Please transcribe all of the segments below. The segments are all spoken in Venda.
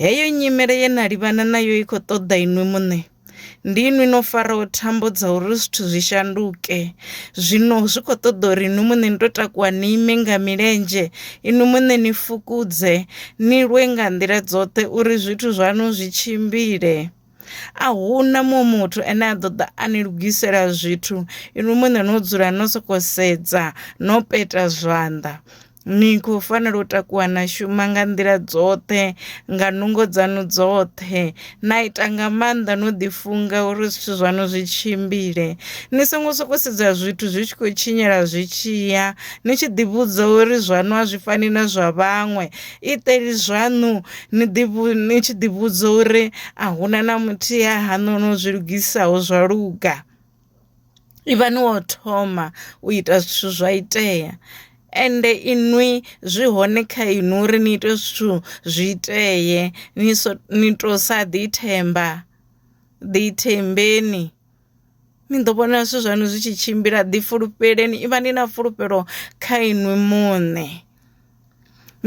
Heyo nyimele ye na livhana nayo i khou ṱoḓa inwi muṋe. Ndi inwi no faraho thambo dza uri zwithu zwi shanduke. Zwino zwi khou ṱoḓa uri inwi muṋe ni tou takuwa ni ime nga milenzhe, inwi muṋe ni fukudze, ni lwe nga nḓila dzoṱhe uri zwithu zwaṋu zwi tshimbile. a huna muṅwe muthu ane a ḓo ḓa a ni lugisela zwithu inwi muṋe no dzula no soko sedza no peta zwanḓa ni khou fanela u takuwa na shuma nga nḓila dzoṱhe nga nungo dzanu dzoṱhe na ita nga maanḓa no ḓi funga uri zwithu zwaṋu zwi tshimbile ni songo soko sedza zwithu zwi tshi khou tshinyala zwi tshiya ni tshi ḓi vhudza uri zwaṋu a zwi fani na zwa vhaṅwe iteli zwaṋu ni ḓi ni tshi ḓi vhudza uri a huna na muthihi ha haṋu no zwi lugisaho zwa luga ivhani wo thoma u ita zwithu zwa itea ende inwi zwi hone kha inwi uri ni ite zwithu zwi itee ni so ni to sa ḓi themba ḓi thembeni. ni ḓo vhona zwithu zwaṋu zwi tshi tshimbila ḓi fulufheleni ivha ni na fulufhelo kha inwi muṋe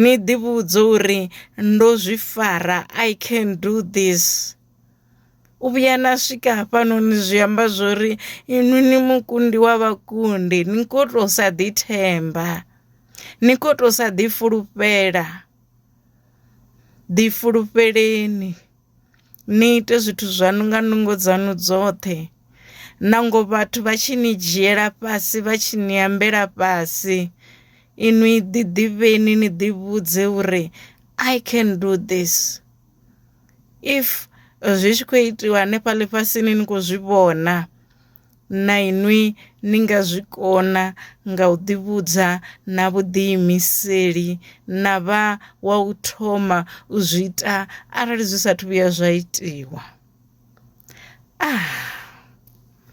ni ḓi vhudza uri ndo zwi fara i can do this u vhuya na swika hafhanoni zwi amba zwori inwi ni mukundi wa vhakundi ni kho to sa ḓi themba ni kho to sa ḓi fulufhela ḓi fulufheleni. Ni ite zwithu zwaṋu nga nungo dzaṋu dzoṱhe. Nango vhathu vha tshi ni dzhiela fhasi vha tshi ni ambela fhasi, inwi ḓi ḓivheni ni ḓi vhudze uri I can do this. If zwi tshi khou itiwa hanefha ḽifhasini ni khou zwi vhona. Na inwi ni nga zwi kona nga u ḓivhudza na vhuḓiimiseli na vha wa u thoma u zwi ita arali zwi sathu vhuya zwa itiwa. Ah.